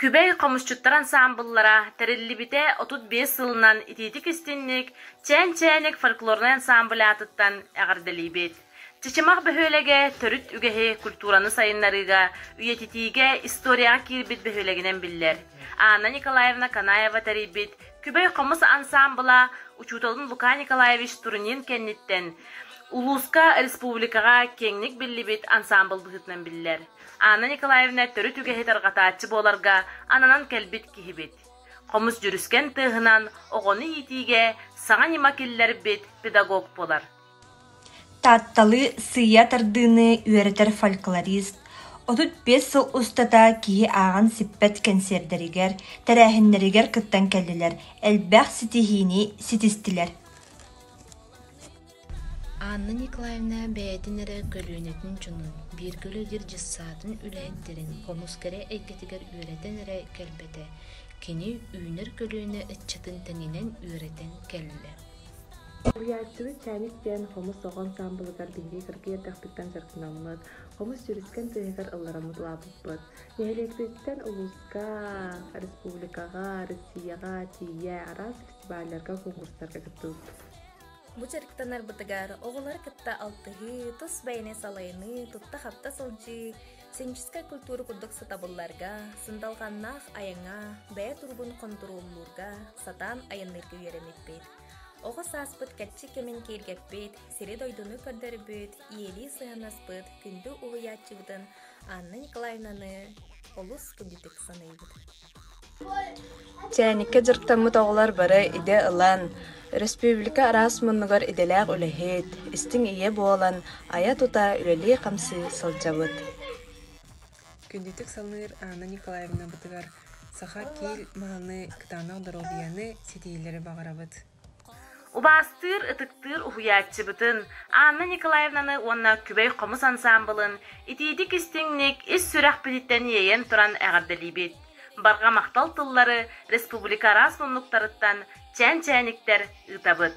Күбэй хомусчуттар ансаамбыллара тэриллибитэ отут биэс сылынан итиитик-истинник Чээн Чээник фольклорнай ансаамбыль аатыттан эҕэрдэлиибит! Чычымах бөһүөлэгэ төрүт үгэһи культураны сайыннарыыга, үйэтитиигэ историяҕа киирбит бөһүөлэгинэн биллэр. Анна Николаевна Канаева тэрийбит Күбэй хомус ансаамбыла учууталын Лука Николаевич Турунин кэнниттэн улууска, республикаҕа киэҥник биллибит ансаамбыл быһыытынан биллэр. Анна Николаевна төрүт үгэһи тарҕатааччы буоларга ананан кэлбит киһибит. Хомус дьүрүскэн тыаһынан оҕону иитиигэ саҥа ньыма киллэрбит педагог буолар. Таатталыы сыыйа тардыыны үөрэтэр фольклорист, отут биэс сыл устата киһи ааҕан сиппэт кэнсиэрдэригэр, тэрээһиннэригэр кыттан кэллилэр, элбэх ситиһиини ситистилэр Анна Николаевна бэйэтин эрэ көлүөнэтин дьонун, бииргэ үлэлиир дьыссаатын үлэһиттэрин хомус кэрэ эйгэтигэр үөрэтэн эрэ кэлбэтэ, кини үүнэр көлүөнэ ыччатын тэнинэн үөрэтэн кэллэ Уһуйааччыбыт Чээник диэн хомус оҕо ансаамбылыгар биһиги кыргый эрдэхпиттэн сырытынаммыт, хомус сүүрүскэн тыаһыгар ыллараммыт улааппыппыт. Нэһилиэкпититтэн улууска, республикаҕа, Россияҕа тиийэ араас фестивалларга, конкурстарга кыттыбыппыт. Бу дьарыктанарбытыгар оҕолары кытта алтыһыы, тус бэйэни салайыныы, тутта-хапта сылдьыы, Сценическай культура курдук сатабылларга, сындалҕаннаах айаҥа, бэйэ туругун хонтуруоллуурга сатаан айанныырга үөрэммиппит. Оҕо сааспыт кэччи кэмин киэргэппит, сири-дойдуну көрдөрбүт, ийэлии сыһанаспыт күндү уһуйааччыбытын Анна Николаевнаны олус кырдьытык саныыбыт. Чээниккэ дьарыктаммыт оҕолор бары идэ ылан, өрөспүүбүлүкэ араас муннугар идэлээх үлэһит, истиҥ ийэ буолан, айа-тута үлэлии-хамсыы сылдьабыт. Күндүтүк саныыр Анна Николаевна бытыгар саха киил мааны кытаанах доруобуйаны, ситиһиилэри баҕарабыт. Убаастыыр, ытыктыыр уһуйааччыбытын Анна Николаевнаны уонна Күбэй хомус ансаамбылын итиитик-истиҥник ис сүрэхпититтэн иэйэн туран эҕэрдэлиибит! Барҕа махтал тыллары республика араас муннуктарыттан чээн-чээниктэр ыытабыт!